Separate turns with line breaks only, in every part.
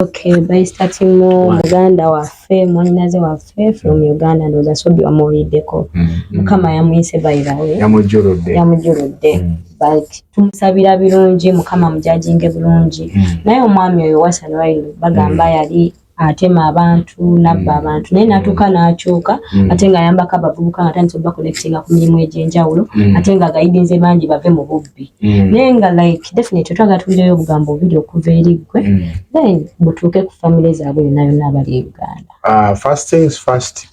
Okay, by starting more muganda waffe mwanyinaze waffe from Uganda ndoza sobi wamuwuliddeko mm, mm. mukama yamuyise by the way yamujjuludde yamujjuludde mm. but tumusabira birungi mukama mujajinge bulungi naye omwami oyo Wasan Railo bagamba yali atema abantu nabba mm. abantu naye natuuka mm. nakyuka mm. ate nga ayambako abavubuka nga tandisa obakolectinga ku mirimu egyenjawulo ate nga agayidinze bangi bave mu bubbi bubbi mm. naye nga like definitely twagala tuwulireyo obugambo bubiri okuva eri ggwe mm. then butuuke ku famile zaabwe yonna yonna abali e uganda ah, first things first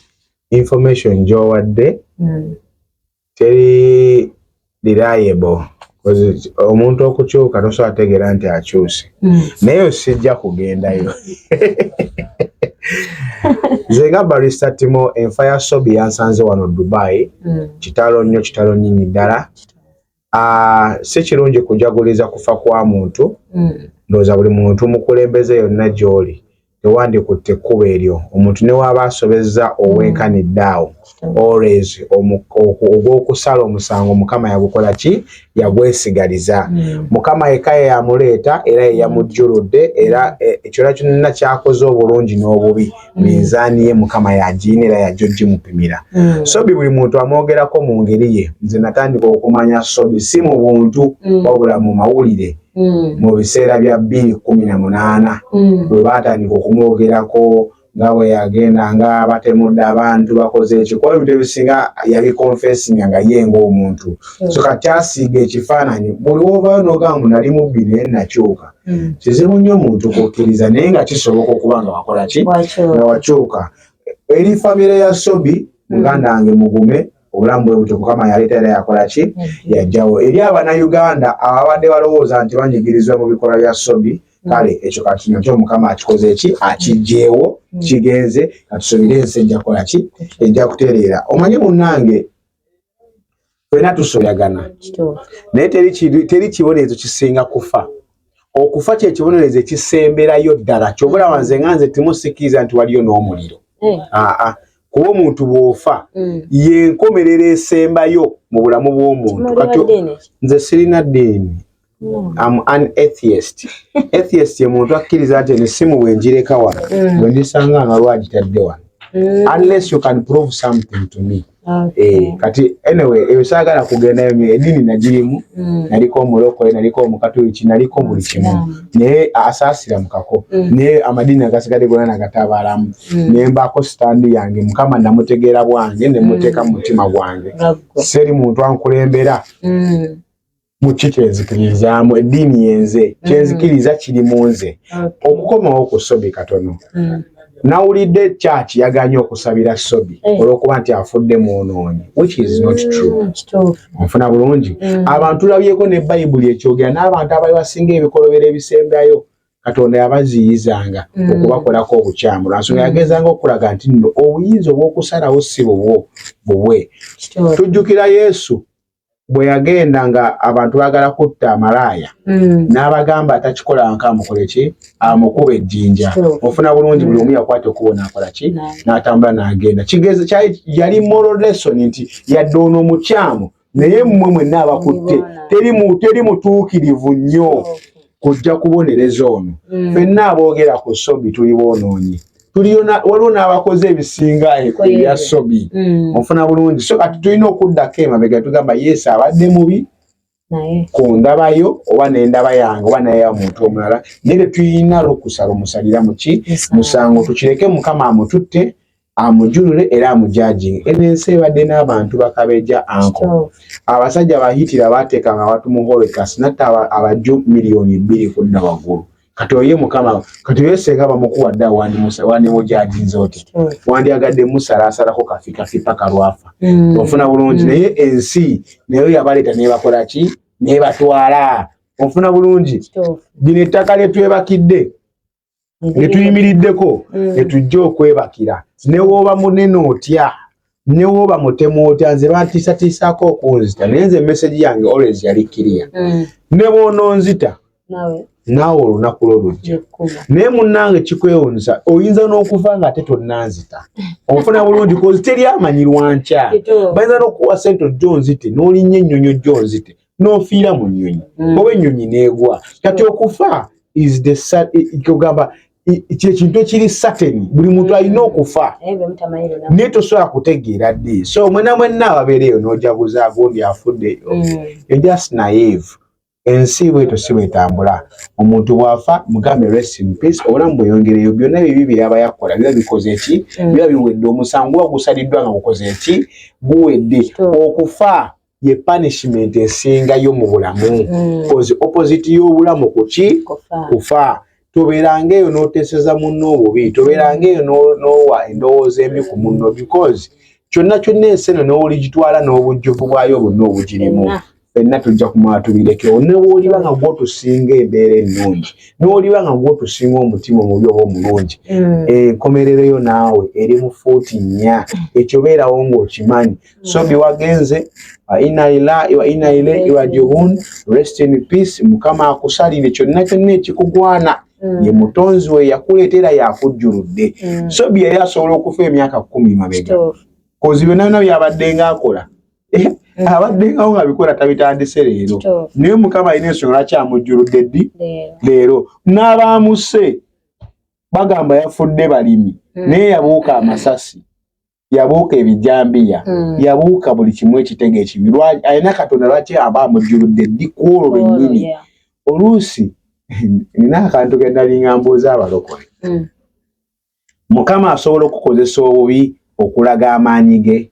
information gyowadde mm. teri reliable omuntu okukyuka tosobola tegeera nti akyuse naye osijja kugendayo nze nga barista timo enfa ya sobi yansanze wano dubai mm. kitalo nnyo kitalo nyinyi ddala si kirungi kujaguliza kufa kwa muntu mm. ndowooza buli muntu mukulembeze yonna gy'oli tewandikutte ekkubo eryo omuntu ne waaba asobezza owenkanidde awo always ogw'okusala omusango mukama yagukola ki yagwesigaliza mm. mukama yekka ye yamuleeta era ye yamujjuludde era e, ekyona kyonna kyakoze obulungi n'obubi mm. mm. minzaani ye mukama yagiyina era yajja ogimupimira mm. sobi buli muntu amwogerako mu ngeri ye nze natandika okumanya sobi si mu buntu mm. wabula mu mawulire mm. mu biseera bya bbiri kumi na munaana mm. bwe baatandika okumwogerako nga bwe yagenda nga batemudde abantu bakoze ekikuba ebintu ebisinga yabikonfesinga nga ye ngaomuntu hmm. so kati asiiga ekifaananyi buli wovayo nogamu nali mubbi naye nakyuka hmm. kizibu nnyo omuntu kukkiriza naye nga kisoboka okuba nga wakola ki nga wakyuka eri famire ya sobi hmm. muganda wange mugume obulamu bwe butyo mukama yaleeta era yakola ki hmm. yajjawo eri abanauganda ababadde balowooza nti banyigirizwa mu bikolwa bya sobi kale ekyo kakinywa kyo mukama akikoze eki akijjeewo kigenze katusubire ensi ejja kola ki ejja kutereera omanyi munnange Fena tusoyagana. Naye teri kibonerezo kisinga kufa. Okufa kye kibonerezo ekisemberayo ddala. Kyobula wanze nga nze timusikiriza nti waliyo n'omuliro. Eh. Ah, ah. Kuba omuntu bw'ofa mm. y'enkomerero esembayo mu bulamu bw'omuntu. Nze sirina ddiini. am an atheist atheist ye muntu akkiriza nti eno essimu bwe njireka wano mm. bwe ndisanga ano waliwo agitadde wano mm. unless you can prove something to me Eh, kati anyway eyo saagala kugendayo nyo edini nagirimu mm. naliko omulokole naliko omukatuliki naliko buli kimu naye asaasira mukako mm. naye amadini agasigade gona nagatabaalamu mm. naye mbaako sitandi yange mukama namutegeera bwange nemuteeka mu mutima gwange seri muntu ankulembera mukyo kyenzikiririzaamu eddiini yenze mm. kyenzikiriza kiri mu nze okukomawo ku sobi katono mm. nawulidde kyaki yaganye okusabira sobi eh. olwokuba nti afudde mwonoonyi which is not mm, true nfuna bulungi abantu labyeko ne bayibuli ekyogera n'abantu abali basinga ebikolobero ebisembayo katonda yabaziyizanga mm. okubakolako obukyamu lwansonga mm. yagezanga okukulaga nti nno obuyinza obwokusalawo si bubwo bubwe tujjukira yesu bwe yagenda nga abantu bagala kutta amalaaya mm. n'abagamba atakikola nka amukole ki amukuba ejjinja ofuna bulungi buli omu yakwata okubo n'akola ki n'atambula n'agenda kigeeza kyali yali moral lesson nti yadde ono omukyamu naye mmwe mwenna abakutte teri mutuukirivu nnyo kujja kubonereza ono mm. fenna aboogera ku sobi tuli boonoonyi waliwo n'abakoze ebisinga ebya sobi mm. ofuna bulungi so kati tulina okuddako emabega tugamba yesu abadde mubi ku ndabayo oba nendaba yange oba naye omuntu omulala naye tetulina lukusa lumusalira muki musango tukireke mukama amututte amujulule era amujajinge eno ensi ebadde n'abantu bakabeja anko abasajja bahitira bateeka nga watu muhorekas natta abaju miliyoni bbiri kudda waggulu kati oye mukama kati oye senga bamukuwa dda wandimujajinze oti wandyagadde musalasalako kafi kafi paka lwafa mm. ofuna bulungi mm. naye ensi nayo yabaleeta nebakola ki nebatwala ofuna bulungi bino ettaka lyetwebakidde ne tuyimiriddeko mm. ne tujja okwebakira ne wooba munene otya ne wooba mutemu otya nze bantiisatiisaako okunzita naye nze emesegi yange always yali kiriya mm. ne bwonoonzita naawe olunaku lwo lujja naye munnange kikwewunyisa oyinza n'okuva nga ate tonnanzita ofuna bulungi kozi teri amanyirwa nkya bayinza n'okukuwa sente ojja onzite n'olinnya ennyonyi ojja onzite n'ofiira mu nnyonyi mm. oba ennyonyi n'egwa kati okufa isgamba kyekintu ekiri sateni buli muntu alina okufa naye tosobola kutegeera ddi so mwena mwenna ababeereeyo n'ojaguza agundi afuddeyo mm. just naive ensi bweto si bwetambula omuntu bwafa mugambe rest in peace obulamu bweyongereyo byonna bibi byeyaba yakola biba bikoze ki mm. biba biwedde omusango guba gusaliddwa nga gukoze ki guwedde okufa ye punishment esingayo mu bulamu mm. cause opposite y'obulamu kuki kufa tobeeranga eyo n'oteeseza munno obubi tobeeranga eyo n'owa endowooza embi ku munno because kyonna kyonna ensi eno n'oligitwala n'obujjuvu bwayo bonna obugirimu fenna tujja kumala tubirekewo newoliba nga gwotusinga embeera ennungi newoliba nga gwotusinga omutima omubi oba omulungi mm. enkomerereyo naawe eri mu fuuti nnya ekyo beerawo ng'okimanyi Sobi wagenze wa inna lillahi wa inna ilaihi rajiun, rest in peace. Mukama akusalire kyonna kyonna ekikugwana mm. ye mutonzi we yakuleetera yakujjuludde. Mm. Sobi yali asobola okufa emyaka kumi mabega kozi byonna byonna byabadde nga akola eh, mm. abadde ngawo nga bikola tabitandise leero, naye Mukama alina ensonga lwaki amujjuludde ddi leero. N'abaamuse bagamba yafudde balimi, naye yabuuka amasasi yabuuka ebijambiya hmm. yabuuka buli kimu ekitego ekibi alina katonda lwaki aba amujjuludde ddi ku olwo oh, lwennyini oluusi nina akantu ke nalinga mbuuza abalokole hmm. mukama asobola okukozesa obubi okulaga amaanyi ge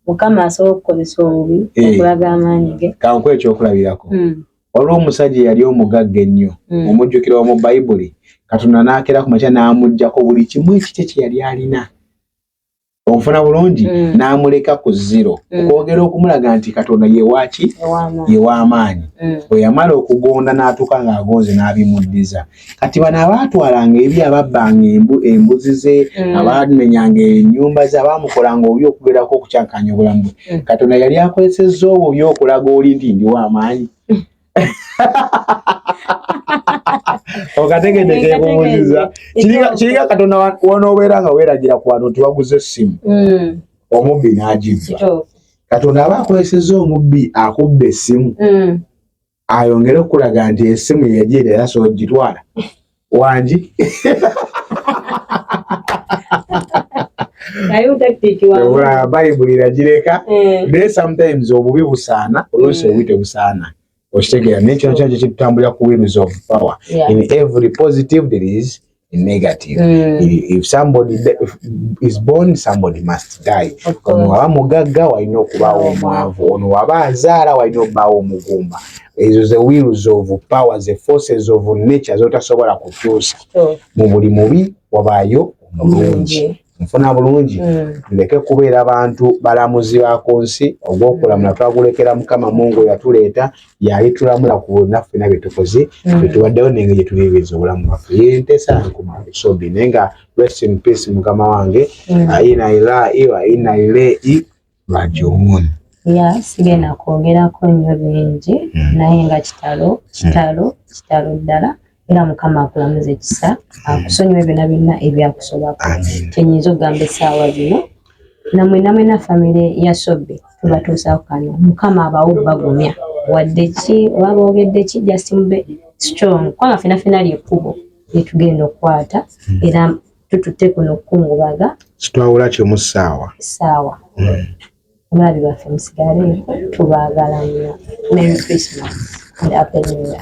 mukama asobola okukozesa obubi eh. okulaga amaanyi ge kanku ekyokulabirako
hmm. Waliwo omusajja eyali omugagga ennyo mm. omujjukira wamu bayibuli katonda n'akeera ku makya n'amugjako buli kimu ekikye kye yali alina okufuna bulungi mm. n'amuleka ku ziro mm. okwogera okumulaga nti katonda yewaaki yew'amaanyi mm. bwe yamala okugonda n'atuuka ng'agonze n'abimuddiza kati bano abaatwalanga ebi ababbanga embu embuzi ze mm. abaamenyanga ennyumba ze abaamukolanga obi okugerako okukyankanya obulamu bwe mm. katonda yali akozesezza obwo by okulaga oli nti ndiwo amaanyi okategedde kyekubuziza kiringa katonda wonoobeera nga weeragira ku bantu nti baguza essimu mm. omubbi n'agibba katonda aba akozesezza omubbi akubba essimu ayongere okulaga nti esimu yeyajeera era sobola gitwala wangi bayibuli iragireka eh. naye sometimes obubi busaana oluusi obubi eh. tebusaana okitegeera naye kino kyona kyekitutambulira ku wheels of power in every positive there is negative mm. if somebody is born somebody must die ono waba mugagga walina okubaawo omwavu ono waba azaala walina okubaawo omugumba ezo ze wheels of power ze forces of nature zotasobola kukyusa mu buli mubi wabaayo omulungi nfuna bulungi mm. ndeke kubeera bantu balamuzi ba ku nsi ogw'okulamula twagulekera mukama mungu yatuleeta yali tulamula ku naffe na byetukoze mm. byetuwaddewo nenge gye tubibiza obulamu bwaffe yentesa nkuma esobi naye nga rest in peace mukama wange mm. aina ilai wa ina ilei rajiun ya sigenda
kwogerako nnyo bingi hmm. naye nga kitalo hmm. kitalo kitalo ddala era mukama akulamuza ekisa hmm. akusonyiwe byona byonna ebyakusobako kyenyinza okugamba esaawa bino namwe namwe na famire ya sobe tubatuusaku kano mukama abawo bagumya wadde ki oba boogedde ki just mube strong kubanga fenafena lyekkubo lyetugenda okukwata era tututte kuno okukungubaga kitwawula kimu
ssaawa ssaawa hmm. omulabi
baffe musigale tubaagala nnyo mary christmas and apeniya